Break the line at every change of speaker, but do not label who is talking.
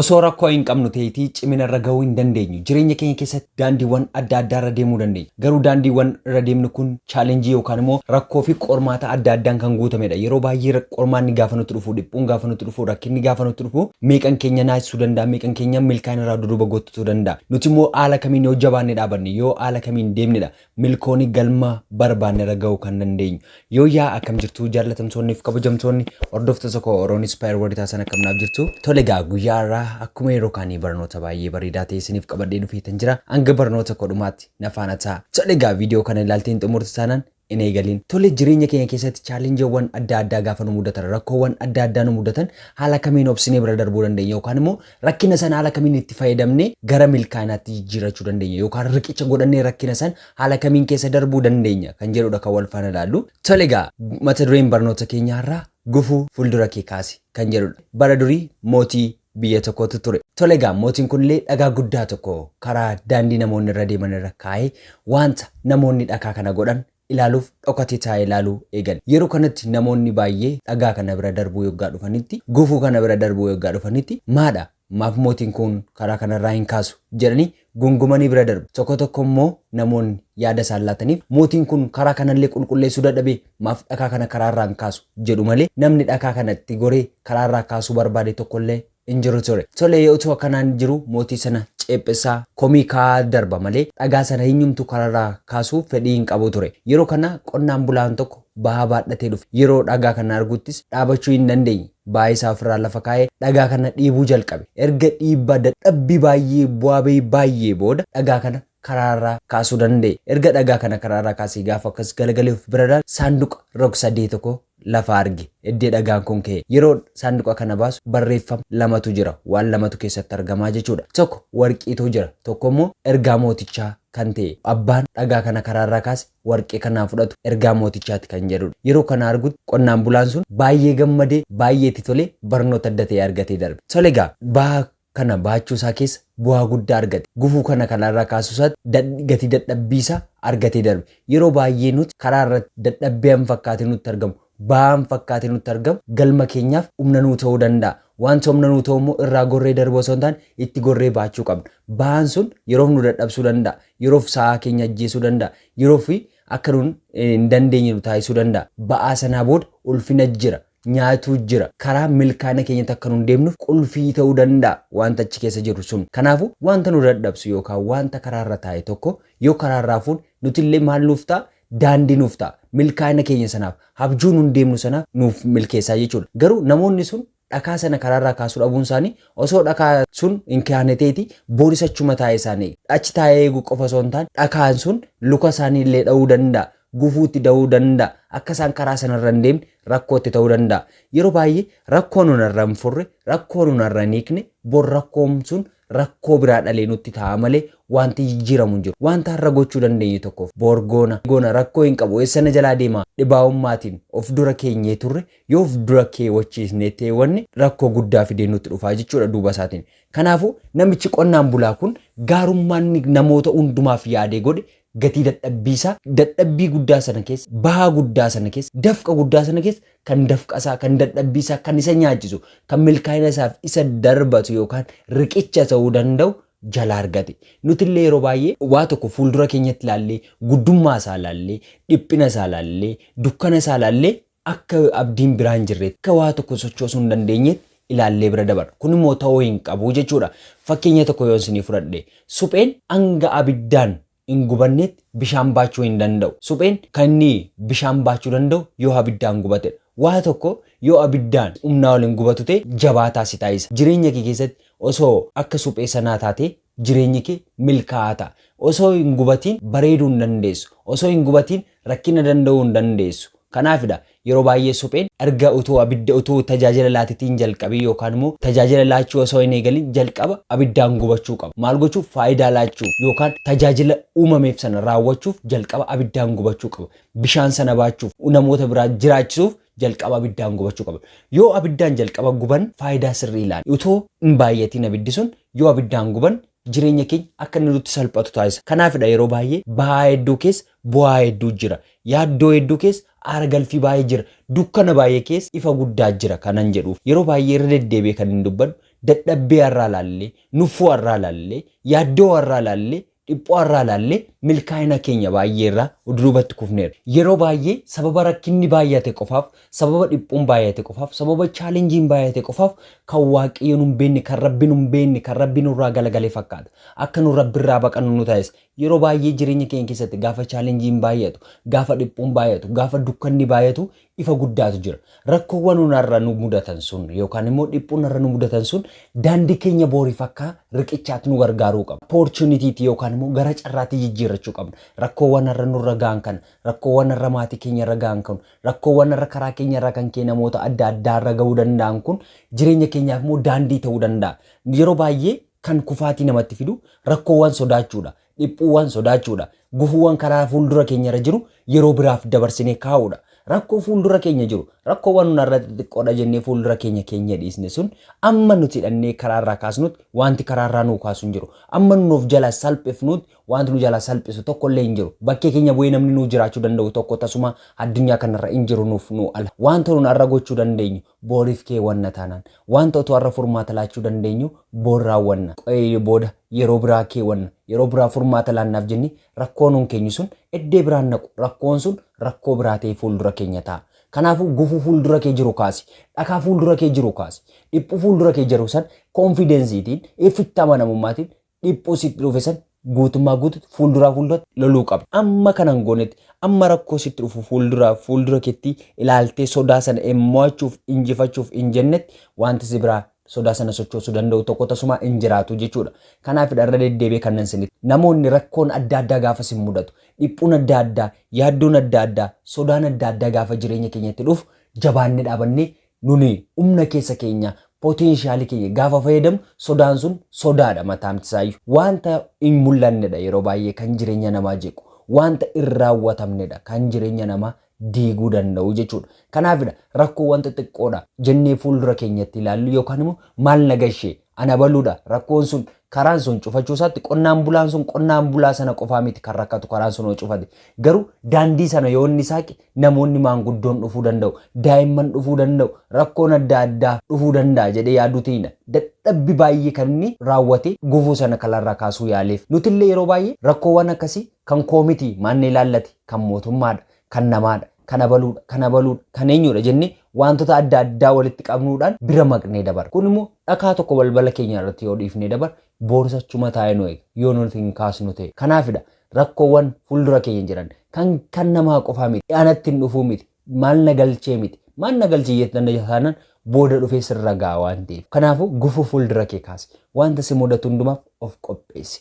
Osoo rakkoo hin qabnu ta'eetii cimina irra gahuu hin dandeenyu. Jireenya keenya keessatti daandiiwwan adda addaa irra deemuu dandeenya. Garuu daandiiwwan irra deemnu kun challenge yookaan immoo rakkoo fi qormaata adda addaan kan guutamedha. Yeroo baay'ee qormaanni gaafa nutti dhufu, dhiphuun gaafa nutti dhufu, rakkinni gaafa nutti dhufu meeqan keenya naasisuu danda'a, meeqan keenya milkaa'ina irraa duduuba goottuu danda'a. Nuti immoo haala kamiin yoo jabaannee dhaabanne, yoo haala kamiin deemnedha milkooni galma barbaannera ga'uu kan dandeenyu. Yooyyaa akkam jirtu jaallatamtoonni fi kabajamtoonni hordoftoota koo Oroon Inspire World Taasan akkam naaf jirtu. Tole egaa guyyaa har'aa akkuma yeroo kaanii barnoota baay'ee bareedaa ta'e isiniif qabadhee dhufeetan jira. Hanga barnoota koo dhumaatti na faana ta'a. Tole egaa viidiyoo kana ilaaltee hin xumurtu taanaan hin eegaliin. Tole jireenya keenya keessatti chaalenjiiwwan adda addaa gaafa nu mudatan rakkoowwan adda addaa nu mudatan haala kamiin obsinee bira darbuu dandeenya yookaan immoo Rakkina sana haala kamiin itti fayyadamnee gara milkaa'inaatti jijjiirrachuu dandeenya yookaan riqicha godhannee rakkina san haala kamiin keessa darbuu dandeenya kan jedhudha kan wal faana ilaallu. Tole egaa mata dureen barnoota keenyaa har'aa gufuu fuuldura kee kaasi kan jedhudha. Bara durii mootii biyya tokkootu ture. Tole egaa mootiin kunillee dhagaa guddaa tokko karaa daandii namoonni irra deeman irra kaa'ee wanta namoonni dhakaa kana godhan ilaaluuf dhokatee taa'ee ilaaluu eegale. Yeroo kanatti namoonni baay'ee dhagaa kana bira darbuu yoggaa dhufanitti, gufuu kana bira darbuu yoggaa dhufanitti, Maadha! Maaf mootiin kun karaa kanarraa hin kaasu? jedhanii gungumanii bira darbu. Tokko tokko immoo namoonni yaada isaan laataniif, Mootiin kun karaa kanallee qulqulleessuu dadhabee maaf dhakaa kana karaarraa hin kaasu? jedhu malee namni dhakaa kana itti goree karaarraa kaasuu barbaade tokkollee hin jiru ture. Tolee utuu akkanaan jiru mootii sana ceephessaa komii kaa'aa darba malee dhagaa sana hinyumtu kararraa kaasuuf fedhii hin qabu ture. Yeroo kana qonnaan bulaan tokko bahaa baadhatee dhufe. Yeroo dhagaa kana arguttis dhaabachuu hin dandeenye. Bahaa isaa ofirraa lafa kaa'ee dhagaa kana dhiibuu jalqabe. Erga dhiibbaa dadhabbii baay'ee bu'aa ba'ii baay'ee booda dhagaa kana karaarraa kaasuu danda'e. Erga dhagaa kana karaarraa kaasee gaafa akkas galagalee of bira ilaalu saanduqa rog-sadee tokko lafa arge. Eddee dhagaan kun ka'e. Yeroo saanduqa kana baasu barreeffam lamatu jira. Waan lamatu keessatti argamaa jechuudha. Tokko warqiitu jira. Tokko immoo ergaa mootichaa kan ta'e. Abbaan dhagaa kana karaarraa kaase warqee kana haa fudhatu ergaa mootichaati kan jedhudha. Yeroo kana argutti qonnaan bulaan sun baay'ee gammadee, baay'ee itti tolee barnoota adda ta'e argatee darbe. Tole egaa baha kana bahachuu isaa keessa bu'aa guddaa argate. Gufuu kana karaa irraa kaasuu isaatti dad gatii dadhabbii isaa argatee darbe. Yeroo baay'ee nuti karaa irratti dadhabbii an fakkaatee nutti argamu, ba'aa an fakkaatee nutti argamu galma keenyaaf humna nuu ta'uu danda'a. Wanta humna nuu ta'u immoo irraa gorree darbuu osoo hin taane itti gorree bahachuu qabna. Ba'aan sun yeroof nu dadhabsuu danda'a, yeroof sa'aa keenya ajjeesuu danda'a, yeroof akka nun hin dandeenye nu taasisuu danda'a. Ba'aa sanaa booda ulfina jira. nyaatu jira. Karaa milkaa'ina keenyatti akka nun deemnuuf qulfii ta'uu danda'a wanta achi keessa jiru sun. Kanaafu wanta nu dadhabsu yookaan wanta karaa irra taa'e tokko yoo karaa irraa fuune nutillee maal nuuf ta'a? Daandii nuuf ta'a. Milkaa'ina keenya sanaaf, habjuu nun deemnu sanaaf nuuf milkeessaa jechuudha. Garuu namoonni sun dhakaa sana karaa irraa kaasuu dhabuun isaanii osoo dhakaa sun hin kaane ta'eeti boris achuma taa'ee isaan eega. Achi taa'ee eeguu qofa osoo hin taane dhakaan sun luka isaanii illee dha'uu danda'a. gufuu itti ta'uu danda'a. Akka isaan karaa sana irra hin deemne rakkoo itti ta'uu danda'a. Yeroo baay'ee rakkoo nun irra hin furre, rakkoo nun irra hin hiikne, bor rakkoon sun rakkoo biraa dhalee nutti ta'a malee wanti jijjiiramu hin jiru. Wanta har'a gochuu dandeenyu tokkoof bor goona, goona rakkoo hin qabu eessa na jalaa deema dhibaahummaatiin of dura keenyee turre yoo of dura keewwachiisnee ta'e wanni rakkoo guddaa fidee nutti dhufaa jechuudha duuba isaatiin. Kanaafuu namichi qonnaan bulaa kun gaarummaan namoota hundumaaf yaadee godhe Gatii dadhabbii isaa dadhabbii guddaa sana keessa, bahaa guddaa sana keessa, dafqa guddaa sana keessa kan dafqa isaa, kan dadhabbii isaa, kan isa nyaachisu, kan milkaa'ina isaaf isa darbatu yookaan riqicha ta'uu danda'u jalaa argate. Nuti illee yeroo baay'ee waa tokko fuuldura keenyatti ilaallee, guddummaa isaa ilaallee, dhiphina isaa ilaallee, dukkana isaa ilaallee akka abdiin biraa hin jirreetti, akka waa tokko sochoosuu hin dandeenyeetti ilaallee bira dabarra. Kun immoo ta'uu hin qabu jechuu dha. Fakkeenya tokko yoon isinii fudhadhe, supheen hanga abiddaan hin gubanneetti bishaan baachuu hin danda'u. Supheen kan inni bishaan baachuu danda'u yoo abiddaan gubate dha. Waa tokko yoo abiddaan humnaa ol hin gubatu ta'e, jabaataa si taasisa. Jireenya kee keessatti osoo akka suphee sanaa taatee Jireenyi kee milkaa'aa ta'a. Osoo hin gubatiin bareeduu hin dandeessu. Osoo hin gubatiin rakkina danda'uu hin dandeessu. Kanaafidha yeroo baay'ee supheen erga utuu abidda utuu tajaajila laatitii hin jalqabiin yookaan immoo tajaajila laachuu osoo hin eegalin jalqaba abiddaan gubachuu qaba. Maal gochuuf? Faayidaa laachuuf yookaan tajaajila uumameef sana raawwachuuf jalqaba abiddaan gubachuu qaba. Bishaan sana baachuuf, namoota biraa jiraachisuuf jalqaba abiddaan gubachuu qaba. Yoo abiddaan jalqaba guban faayidaa sirrii ilaali. Utoo hin baay'atiin abiddi sun yoo abiddaan guban jireenya keenya akka inni nutti salphatu taasisa. Kanaafidha yeroo baay'ee ba'aa hedduu keessa bu'aa hedduu jira. Yaaddoo hedduu keessa aara galfii baay'ee jira. Dukkana baay'ee keessa ifa guddaa jira kanan jedhuuf. Yeroo baay'ee irra deddeebi'ee kanin dubbadhu dadhabbee har'aa ilaallee, nuffuu har'aa ilaallee, yaaddoo har'aa ilaallee Dhiphoo har'aa ilaallee milkaa'ina keenya baay'ee irraa duubatti kufneerra. Yeroo baay'ee sababa rakkinni baay'ate qofaaf, sababa dhiphoon baay'ate qofaaf, sababa challengeen baay'ate qofaaf kan Waaqayyo nu hin beekne, kan Rabbi nu hin beekne, kan Rabbi nurraa galagale fakkaata. Akka nu Rabbi irraa baqannu nu taasisa. Yeroo baay'ee jireenya keenya keessatti gaafa challengeen baay'atu, gaafa dhiphoon baay'atu, gaafa dukkanni baay'atu Ifa guddaatu jira. Rakkoowwan onarra nu mudatan sun yookaan immoo dhiphuunarra nu mudatan sun daandii keenya booriif akka riqichaatti nu gargaaruu qaba. Opportunitiitti yookaan immoo gara carraatti jijjiirrachuu qabna. Rakkoowwan har'a nurra ga'an kana, rakkoowwan har'a maatii keenyarra ga'an kun, rakkoowwan har'a karaa keenyarraa kan ka'e namoota adda addaarra ga'uu danda'an kun jireenya keenyaaf immoo daandii ta'uu danda'a. Yeroo baay'ee kan kufaatii namatti fidu rakkoowwan sodaachuudha. Dhiphuuwwan sodaachuudha. Gufuuwwan karaa fuuldura keenyarra jiru yeroo biraaf dabarsinee kaa'uudha. Rakkoo fuuldura keenya jiru, rakkoowwan nun har'a xixiqqoodha jennee fuuldura keenya keenyee dhiisne sun amma nuti hidhannee karaarraa kaasnuutti waanti karaarraa nuu kaasu hin jiru. Amma nun of jalaa salphifnuutti waanti nu jalaa salphisu tokkollee hin jiru. Bakkee keenya bu'ee namni nuu jiraachuu danda'u tokko tasumaa addunyaa kanarra hin jiru nuuf nuu ala. Waanta nun har'a gochuu dandeenyu Booriif keewwanna taanaan. Wanta utuu har'a furmaata laachuu dandeenyuu boor raawwanna. Qo'ee booda yeroo biraa keewwanna. Yeroo biraa furmaata laannaaf jennee rakkoo nuun keenyu sun eddee biraan naqu. Rakkoon sun rakkoo biraa ta'ee fuuldura keenya taa'a. Kanaafuu gufuu fuuldura kee jiru kaasi. Dhakaa fuuldura kee jiru kaasi. Dhiphuu fuuldura kee jiru san confidence tiin, ifitti amanamummaatiin dhiphuu sitti dhufe san guutummaa guututti fuulduraa fuulduratti loluu qabda. Amma kana hin goonetti amma rakkoo sitti dhufu fuulduraa fuuldura keetti ilaaltee sodaa sana hin mo'achuuf injifachuuf hin jennetti wanti si biraa sodaa sana sochoosuu danda'u tokko tasumaa hin jiraatu jechuudha. Kanaafidha irra deddeebi'ee kanan isinitti. Namoonni rakkoon adda addaa gaafa sin mudatu, dhiphuun adda addaa, yaaddoon adda addaa, sodaan adda addaa gaafa jireenya keenyatti dhufu jabaannee dhaabannee Nuni umna keessa keenya, potential keenya gaafa fayyadamnu sodaan sun sodaadha mataamti isaayyu. Waanta hin mul'annedha yeroo baay'ee kan jireenya namaa jeequ. Waanta hin raawwatamnedha kan jireenya namaa diiguu danda'u jechuudha. Kanaafidha rakkoowwan xixiqqoodha jennee fuuldura keenyatti ilaallu yookaan immoo maal na gashee An abaluudha. Rakkoon sun karaan sun cufachuu isaatti qonnaan bulaan sun qonnaan bulaa sana qofaa miti kan rakkatu karaan sun yoo cufate. Garuu daandii sana yoo inni saaqe namoonni maanguddoon dhufuu danda'u, daa'imman dhufuu danda'u, rakkoon adda addaa dhufuu danda'a jedhee yaaduutiinidha. Dadhabbi baay'ee kan inni raawwate gufuu sana kalarraa kaasuu yaaleef. Nutillee yeroo baay'ee rakkoowwan akkasii kan koo miti maanna ilaallati kan mootummaadha. kan namaadha, kan abaluudha, kan abaluudha, kan eenyuudha jennee wantoota adda addaa walitti qabnuudhaan bira maqnee dabarra. Kun immoo dhakaa tokko balbala keenya irratti yoo dhiifnee dabarre boorsa chuma taa'ee nu eega yoo nuti hin kaasnu ta'e. Kanaafidha rakkoowwan fuuldura keenya jiran kan kan namaa qofaa miti, anatti hin dhufuu miti, maal na galchee miti, maal na galchee jettan taanaan booda dhufee sirra ga'a waan ta'eef. Kanaafuu gufuu fuuldura kee kaasi. Wanta si mudatu hundumaaf of qopheessi.